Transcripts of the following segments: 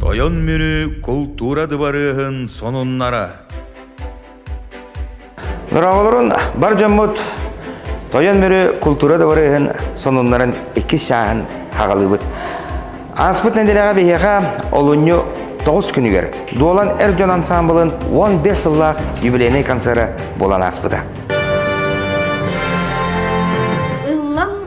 Тойон Мүрү култуура дыбарыаһын сонуннара Дорооболорун бар дьоммут Тойон Мүрү култуура дыбарыаһын сонуннарын иккис чааһын хагалыыбыт. Ааспыт нэдилэҕэ биһиэхэ олунньу тоҕус күнүгэр Дуолан эр дьон ансаамбылын уон бес сыллаах юбилейнай концерта буолан ааспыта.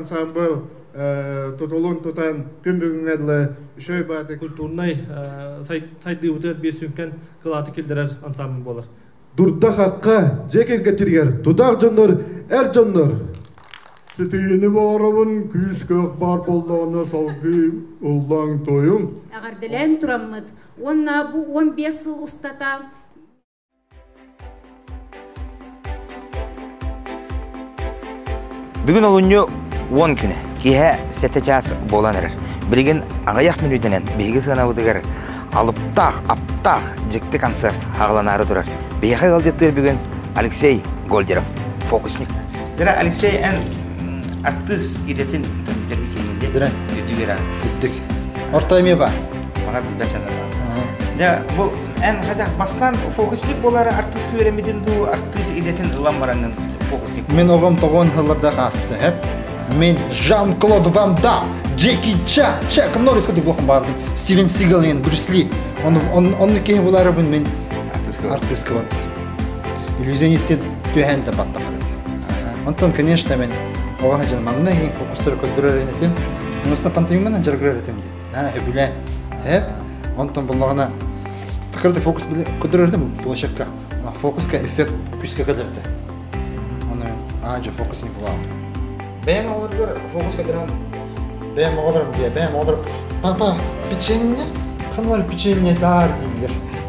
ансамбыл тутулун тутан күн бүгүҥҥэ дылы үчүгэй бааты культурнай сайдыыбытыгар биир сүҥкэн кылааты киллэрэр ансамбыл буолар Дурдахахха, дьиэ кэргэттэригэр тутаах дьоннор, эр дьоннор. Ситиини баҕарабын күүс-көх баар буоллаҕына салгыы ыллаҥ-тойуҥ. Эҕэрдэлээн тураммыт уонна бу уон биэс сыл устата Бүгүн олунньу уон күнэ. Киэһэ сэттэ чаас буолан эрэр. Билигин аҕыйах мүнүүтэнэн биһиги сыанабытыгар алыптаах, аптаах дьикти концерт хааланаары турар. Биһиэхэ ыалдьыттыыр бүгүн Алексей Гольдеров, фокусник. Дыра Алексей, эн артыыс идэтин кэмитэрби киэҥин диэ. Дыра. Үрдүгэр аан. Үрдүк. Орто эмиэ бар. бара билбэт санаалаах. Дьэ, бу эн хайдах бастан фокусник буолар артист үөрэммитин дуу, артист идэтин ылан баранын фокусник. Мен оҕом тоҕон сылларда ааспыта хэп. Мен Жан-Клод Ван Дам, Джеки Чан, Чак Норрисқа деп оқым бардым. Стивен Сигал мен Брюс Ли. Он онны кеһи буларыбын мен артистка вот. Иллюзионисты төһен да баттапады. Онтон, конечно, мен оҕа жан манна фокустары көрдөрөр этим. Онусына пантеюмана жаргырар этим дей. Аа, үбүлээ. Эт, онтон буллаҕына көрдө фокус били көрдөрөрдө му площадка. Фокуска эффект күскэ көдөрдө. Оны аажа фокус не булаабыт. Бэйэм оҕолоругар фокус көдөрөн Бэйэм оҕолорум диye, бэйэм оҕолорум папа печенье, ханвар печенье daar дийлер.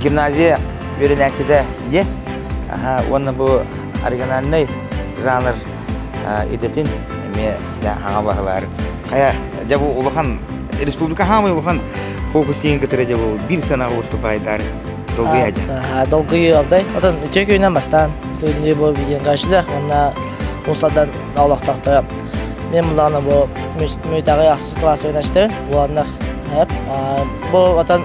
гимназия үөрэнээччитэ диэн уонна бу оригинальнай жанр идэтин эмиэ хаҥа баһылаар хайа дьэ бу улахан республика хаамай улахан фокустиин кытары дьэ бу биир санаҕа выступайдар долгуй адя долгуй абдай отон үтө күйүнэн бастаан күнү бу видеон гашлах уонна усадан олохтохто мен мулана бу мүйтаҕы ахсыс класс ойнашты уоннах эп бу отон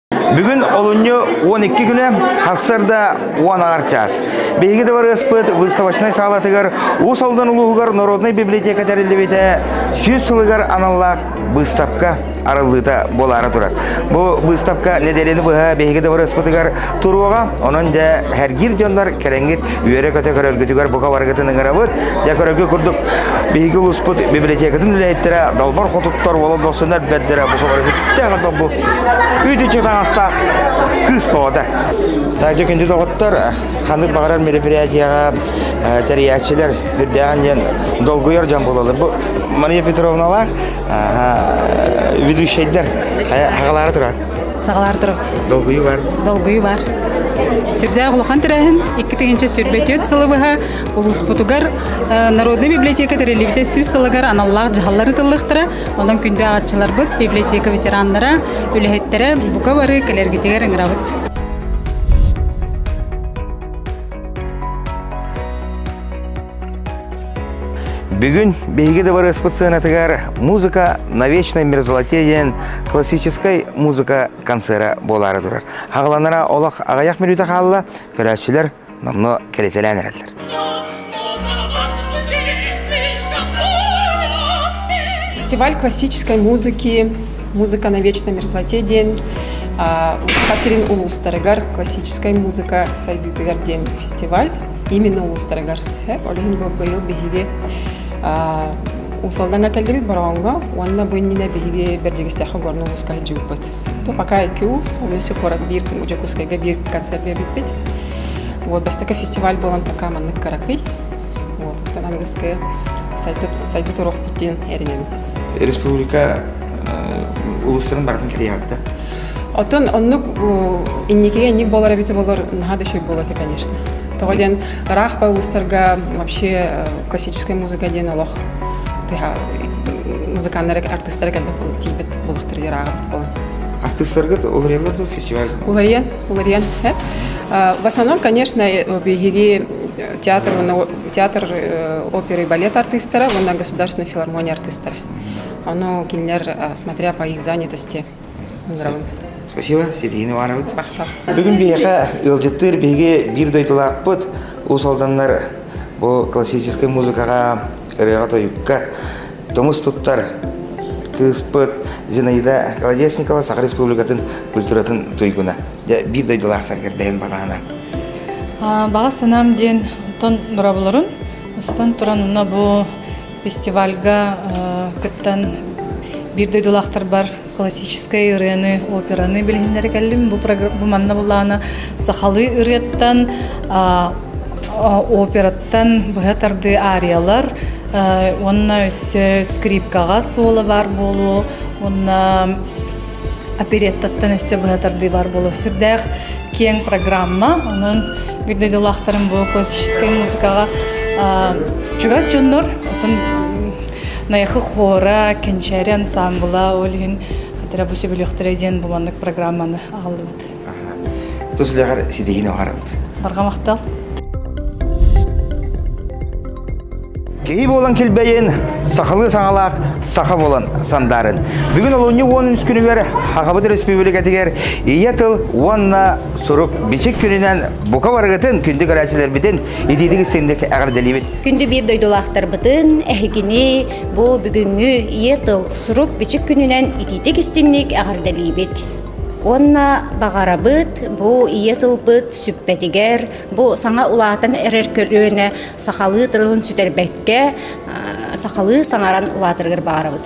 Бүгүн олунньу 12 күнэ, ХСРда уон аар чаас. Биһиги дыбарыаспыт выставочнай саалатыгар Уус Алдан улууһугар Народнай библиотека тэриллибитэ сүүс сылыгар аналлаах быыстапка арыллыыта буолаары турар. Бу быыстапка нэдиэлэни быһа биһиги дыбарыаспытыгар туруоҕа, онон дьэ эргиир дьоннор кэлэҥҥит үөрэ-көтө көрөргүтүгэр бука барыгытын ыҥырабыт. Дьэ көрөргүт курдук биһиги улууспут библиотекатын үлэһиттэрэ долбор хотуттар болон босунар бэрдэрэ бука барыгытыттан Үт үчү таҥастаах кыыс тоҕота. Тайдо күндү доҕоттор, ханнык баҕарар мероприятияҕа тэрийээччилэр үрдээн диэн долгуйар дьон буолалар. Бу Мария Петровналаах ведущайдар хагалаары турар. Сагалаары турар. Долгуйу бар. Долгуйу бар. Сүрдээх улахан тэрээһин икки тыһынча сүүрбэ түөрт сылы быһа улууспутугар народнай библиотека тэриллибитэ сүүс сылыгар аналлаах дьаһаллар ытыллыктара Онон күндү ааҕаччыларбыт, библиотека ветераннара, үлэһиттэрэ бука бары кэлэргитигэр ыҥырабыт. Бүгүн биһиги дыбарыаспыт сыанатыгар музыка на вечное мерзлоте диэн классическай музыка концерта буолаары турар. Хагаланара олох аҕыйах мүнүүтэ хаалла, көрөөччүлэр номно кэлитэлээн эрэллэр. Фестиваль классической музыки «Музыка на вечной мерзлоте» диэн Саха сирин улуустарыгар классическай музыка сайдыытыгар диэн фестиваль именно улуустарыгар олиһин быйыл биһиги усалдanga келдебит бороонго уонна бу иннинэ биһиги бердигистехе горну улуска хыджыбыт То пока ИКИУЛС, Улисе куорат биир Дьокуускайга биир концерт биэрбиппит. Вот бастакы фестиваль буолан пока маннык каракый. Вот оттон аныгыскы сайты сайты туруохпут диэн эринэбин. Республика улустарын барытын килияватта. Оттон оннук инникиге инник болар эбити болар наһа да шөй болады конечно. Тоҕо диэн ыраах па улустарга вообще классическая музыка диэн олох музыканнары артыстары кэлбэт тиийбэт Булахтар яраагыбыт болон. Артыстарга уларыйалар да фестиваль? Уларыйан, уларыйан. В основном, конечно, биһиги театр, театр оперы и балет артистара уонна государственной филармония артистара. Оно кинилэр, смотря по их занятости, играбын. Спасибо, Сергей Иванович. Бүгүн биһиэхэ ыалдьыттыыр биһиги биир дойдулаахпыт Уус Алданнар бу классическай музыкаҕа, ырыаҕа-тойукка Тумус туттар кыыспыт Зинаида Колодезникова Саха Республикатын культуратын туйгуна. Дьэ, биир дойдулаахтарга бэйэм баҕаһына. Баҕа санаам диэн оттон нурабыларын ыстан туран онно бу фестивальга кыттан биир дойдулаахтарбар классическай ырыаны, операны билиһиннэри кэллим. Бу, бу манна булаана сахалыы ырыаттан, операттан быһа тардыы ариялар, уонна өссө скрипкаҕа суола баар буолуо, уонна опереттаттан өссө быһа тардыы баар буолуо. Сүрдээх киэҥ программа, онон бүт дойдулаахтарым бу классическай музыкаҕа чугас дьоннор, оттон Найахы хора, Кенчери ансамбла, ол иһин Рабочий бөлөхтөрө диэн буланнык программаны ааллыбыт. Тус үлэҕэр ситиһиини оҕарабыт. Барга махтал. Киһи буолан килбэйин, сахалыы саҥалаах саха буолан сандарын. Бүгүн олунньу уон үс күнүгэр Хахабыт Республикатыгар Ийэ тыл уонна сурук бичик күнүнэн бука барыгытын күндү көрөөччүлэрбитин Итиитик синдик эҕэрдэлиибит. Күндү биир дойдулаахтарбытын, эһигини, бу бүгүҥҥү Ийэ тыл сурук-бичик күнүнэн итиитик истинник эҕэрдэлиибит. Уонна баҕарабыт бу ийэ тылбыт сүппэтигэр, бу саҥа улаатан эрэр көлүөнэ сахалыы тылын сүтэрбэккэ, сахалыы саҥаран улаатарыгар баҕарабыт.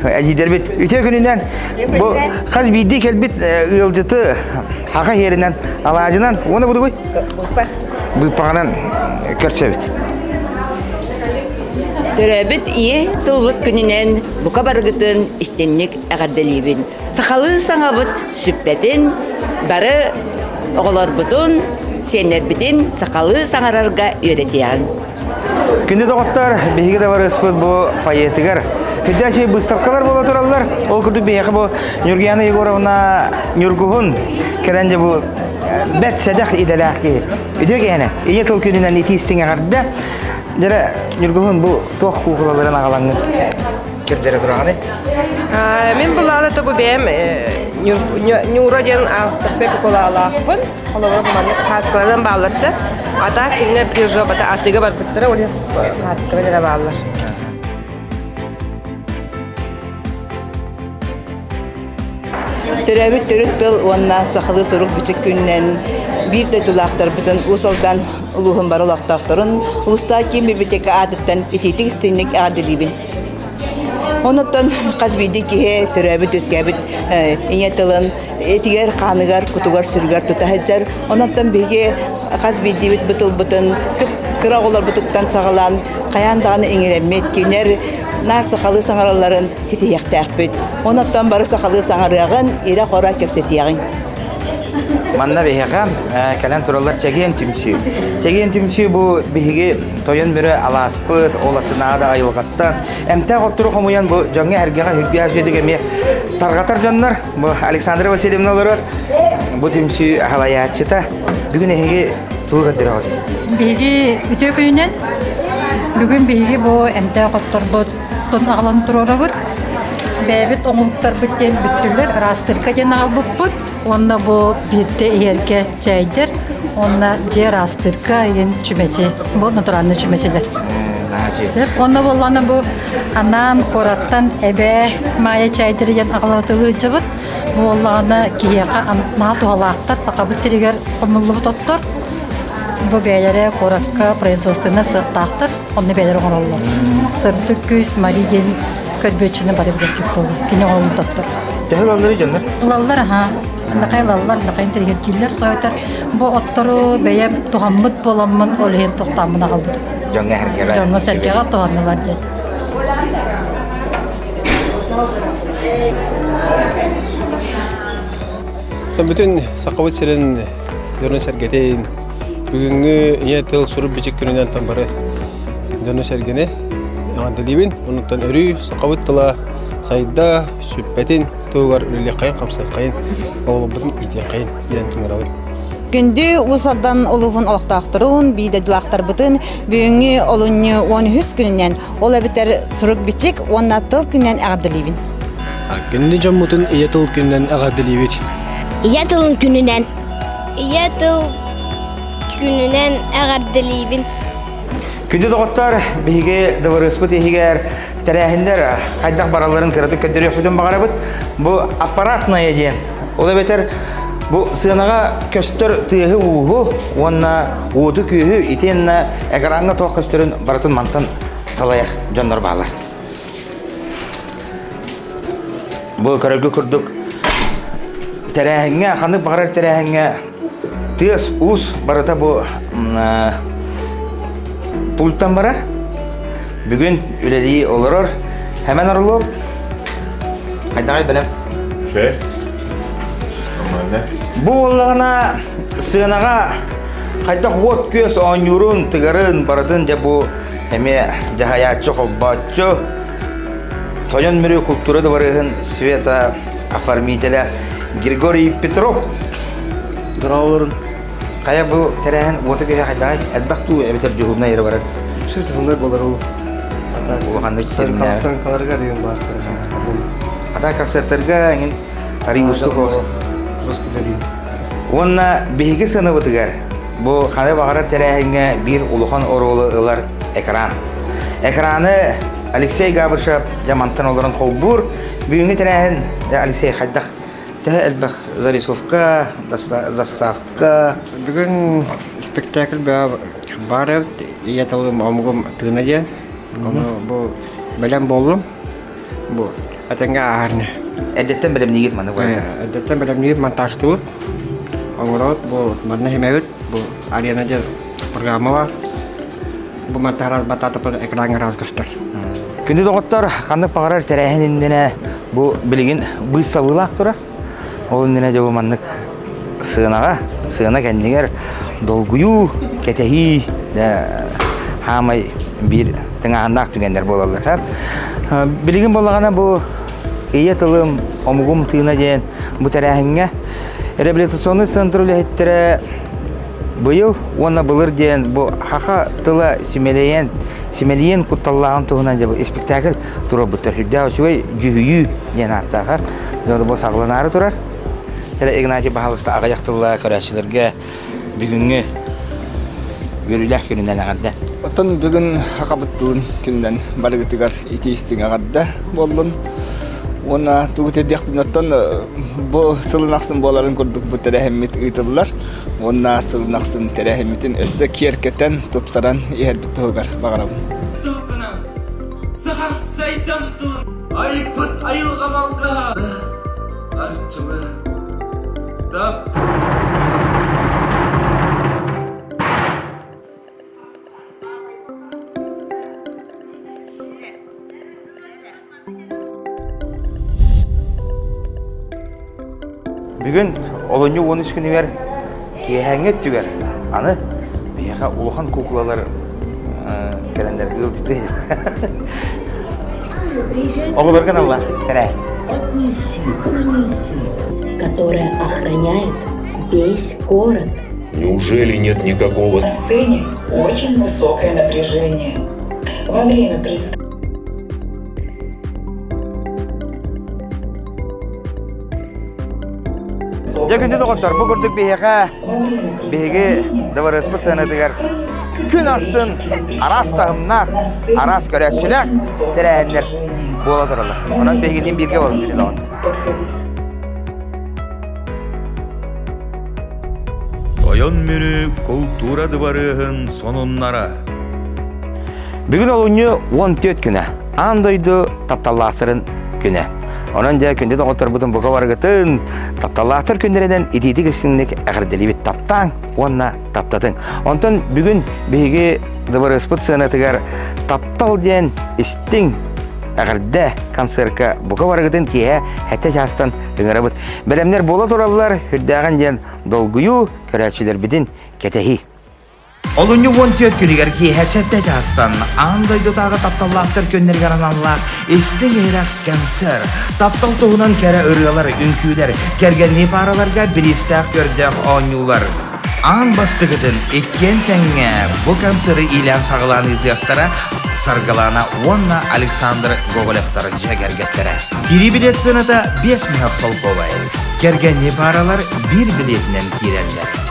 Эдьиийдэрбит үтүө күнүнэн бу хас биирдии кэлбит ыалдьыты хака хиэринэн алаадьынан уона будугуй? Быыппаҕынан көрсөбүт. Төрөөбүт ийэ тылбыт күнүнэн бука барыгытын истинник эҕэрдэлиибин. Сахалыы саҥабыт сүппэтин бары оҕолорбутун, сиэннэрбитин сахалыы саҥарарга үөрэтиэҕиҥ. Күндү доҕоттор, биһиги да барыспыт бу фойетыгар. Үрдээчи быыстапкалар буола тураллар. Ол курдук биһиэхэ бу Нюргиана Егоровна Ньургуһун кэлэн дьэ бу бэт сэдэх идэлээх киһи. Үтүө киһине, ийэ тыл күнүнэн итии истиҥ эҕэрдэ. Дьэрэ Ньургуһун бу туох куукулаларын аҕалаҥҥын көрдөрө тураҕыны? Мин былаана тобу бэйэм Ньура диэн авторскай кукулаалаахпын. Холобура маны хаартыскалардан бааллар сэ. А так кинилэр прижобата аттыга барбыттара ол хаартыскалар эрэ бааллар. Төрөөбүт төрүт тыл уонна сахалыы сурук бичик күннэн биир дойдулаахтарбытын Уус-Алдан улууһун бары олохтоохторун улустаа киин библиотека аатыттан итиитик истинник эҕэрдэлиибин. Онуттан хас биирдии киһи төрөөбүт-үөскээбит ийэ тылын этигэр-хааныгар, кутугар-сүрүгэр тута сылдьар. Онуттан биһиги хас биирдиибит бу тылбытын кыра оҕолорбутуттан саҕалаан хайаан даҕаны иҥэрэммит, кинилэр наах сахалыы саҥаралларын ситиһиэхтээхпит. Онуттан бары сахалыы саҥарыаҕын, ирэ-хоро кэпсэтиэҕиҥ. Манна биһиэхэ кэлэн тураллар чэгиэн түмсүү. Чэгиэн түмсүү бу биһиги тойон бүрө алааска ыппыт, ол атынаада айылҕаттан. Эмтээх оттору хомуйан бу дьоҥҥо эргэҕэ үрбиһэ үчүгэдик эмиэ тарҕатар дьоннор. Бу Александра Васильевна олорор, бу түмсүү аһылайааччыта. Бүгүн эһиги тугу көрдөрөҕүт? Биһиги үтүө күнүнэн бүгүн биһиги бу эмтээх отторбут аҕалан туруорабыт. Бэйэбит омуктарбыт диэн бүттүлэр, ыраастырка диэн аҕалбыппыт. Уонна бу биирдэ иһэргэ чэйдэр уонна дьиэ араастыырка ыйын чүмэчи, бу натуральный чүмэчилэр. Сөп. Уонна боллана бу анаан кураттан эбээ Майя чайдары ян аҕалатылыыдьабыт. Буоллаҕына киһиэхэ анаа туһалаахтар сахабыт сиригэр хомуллубут оттор. Бу бэйэлэрэ куоракка производственна сыахтаахтар, онны бэйэлэрэ оҥороллор. Сырдык күс Мари диэн Көрбүөччүнү бары билэргит буолла. Кини оҕолорун тоттор. Төһө ылаллар дьоннор? Ылаллар аhaa. Лакай ылаллар, лакай интеллигентииллэр тойтар. Бу оттору бэйэ тугаммыт боламмын, ол иһин тохтааммын аҕалбыт. Дьоҥҥо сэргэҕэ. Дьоҥҥо сэргэҕэ туһаннылар диэн. Бүтүн Сахабыт сирин дьону-сэргэтин, бүгүҥҥү Ийэ тыл сурук-бичик күнүнэн бары дьону-сэргэни эҕэрдэлиибин. Онуттан өрүү сахабыт тыла сайда, сүппэтин туһугар үлэлиэххэйин-хамсыаххайын, оҕолорбутун иитиэххэйин диэн түҥэрэбин. Күндү Уус Алдан улууһун олохтоохторун, биидадьылаахтарбытын бүгүҥҥү олунньу 13 күнүнэн, ол эбэтэр сурук-бичик уонна тыл күнүнэн эҕэрдэлиибин. Кини дьоммутун ийэ тыл күнүнэн эҕэрдэлиибит. Ийэ тылын күнүнэн Ийэ тыл күнүнэн эҕэрдэлиибин. Күндү доҕоттор, биһиги дыбарыаспыт иһигэр тэрээһиннэр хайдах баралларын кыратык көрдөрүөхпүтүн баҕарабыт. Бу аппаратная диэн. Ол эбэтэр бу сыанаҕа көстөр тыаһы-ууһу уонна уоту-күөһү итиэннэ экраҥҥа туох көстөрүн барытын мантан салайар дьоннор бааллар. Бу көрөргө курдук тэрээһиҥҥэ, ханнык баҕарар тэрээһиҥҥэ тыас, уус барыта бу пультан барар. Бүгүн үлэлии олорор. Хэмэн орулуо. Хайдаҕай бэлэм? Ше. Нормально. Бу боллагына сыанаға хайдах вот күөс оонньуурун, тыгарын, барытын дьэ бу эмиэ дьаһайааччы, холбооччу, Тойон миры культура дворыһын Света оформителя Григорий Петров. Здраволарын. Хайа бу тэрээһин уота киһи хайдаҕай? Элбэх дуу эбэтэр дьуһунна ere барар? Шит хуннай болар ол. Улаханнык сириннэ. Санкаларга деген бар. Ата концерттерге эҥин арий устуков. Уонна биһиги сыныбытыгар Бу ханы баҕарар тэрээһиҥҥэ биир улахан оруолу ылар экран. Экраны Алексей Габышев дьэ мантан олорон холбуур. Бүгүҥҥү тэрээһин Алексей хайдах төһө элбэх зарисовка, заставка? Бүгүн спектакль баар эбит. Ийэ тылым омугум тыына диэн. Ону бу бэлэм боллум. бу этэҥҥэ ааһарына. Эрдэттэн бэлэмниигит маннык уратан. Эрдэттэн бэлэмниир монтажтыбыт. Оҥороот бу манна иһимэбит. Бу арена диэн программа бар. Бу монтажар батаатапыр экран раз көстөр. Күндү доҕоттор, ханнык баҕарар тэрээһин иннинэ бу билигин быыс сабыылаах тура. Ол иннинэ дьэ бу маннык сыанаҕа, сыана кэннигэр долгуйуу, кэтэһии хаамай биир тыҥааһыннаах түгэннэр буолаллар. Билигин буоллаҕына бу Ийэ тылым, омугум тыына диэн бу тэрээһиҥҥэ реабилитационный центр үлэһиттэрэ быйыл уонна былыр диэн бу хаха тыла симэлийэн симэлийэн кутталлааҕын туһунан дьэ бу испэктээкил турарбыттар сүрдээх үчүгэй дьүһүйүү диэн ааттаахар бу саҕаланаары турар Игнатий Баһалыста аҕыйах тылла көрөөччүлэргэ бүгүҥҥү үөрүүлээх күнүнэн эҕэрдэ оттон бүгүн хабыт тылын күнүнэн барыгытыгар ити-истиҥ эҕэрдэ буоллун уонна тугу тиэрдиэхпин оттон бу сылын ахсын буоларын курдук бу тэрээһиммит ыытыллар уонна сылын ахсын тэрээһиммитин өссө киэркэтэн тупсаран иһэрбит туһугар баҕарабын Саха сайдам тылын айбыт айылҕа малгаһа Арчылы Дап Бүгүн олунньу уон үс күнүгэр киэһээҥҥи өттүгэр аны биһиэхэ улахан куукулалар кэлэннэргэ ылдьыты Оҕолорго наллаах тэрээһин. Которая охраняет весь город. Неужели нет никакого... Очень высокое напряжение. Во время Дьэ күндү доҕоттор, бу курдук биһиэхэ биһиги дыбарыаспыт сыанатыгар күн арсын араас таһымнаах, араас көрөөччүлээх тэрээһиннэр буола тураллар. Онон биһигитин бииргэ болун күндү доҕоттор. Ойон мүрү култуура дыбарыаһын сонуннара Бүгүн олунньу уон түөрт күнэ. Аан дойду тапталлаахтарын күнэ. Онон дьэ күндү доҕотторбутун бука барыгытын тапталлаахтар күннэринэн итиитик истиҥник эҕэрдэлиибит таптааҥ уонна таптатыҥ. Онтон бүгүн биһиги дыбарыаспыт сыанатыгар таптал диэн истиҥ эҕэрдэ концертка бука барыгытын киэһэ хэттэ чаастан ыҥырабыт. Бэлэмнэр буола тураллар, үрдээҕин диэн долгуйуу, көрөөччүлэрбитин кэтэһии. Олунньу уон түөрт күнүгэр киэһэ сэттэ чаастан аан дойдутааҕы тапталлаахтар күннэригэр аналлаах истиҥ ирэх кэнсэр. Таптал туһунан кэрэ ырыалар, үҥкүүлэр, кэргэннии паараларга бириистээх көрдөөх оонньуулар. Аан бастакытын иккиэн тэҥҥэ бу концеры иилээн-саҕалаан ыытыахтара Саргылана уонна Александр Гоголевтар дьиэ кэргэттэрэ. Кирии билет сыаната 5 мөһөх солкуобай. Кэргэннии пааралар биир билетинэн киирэллэр.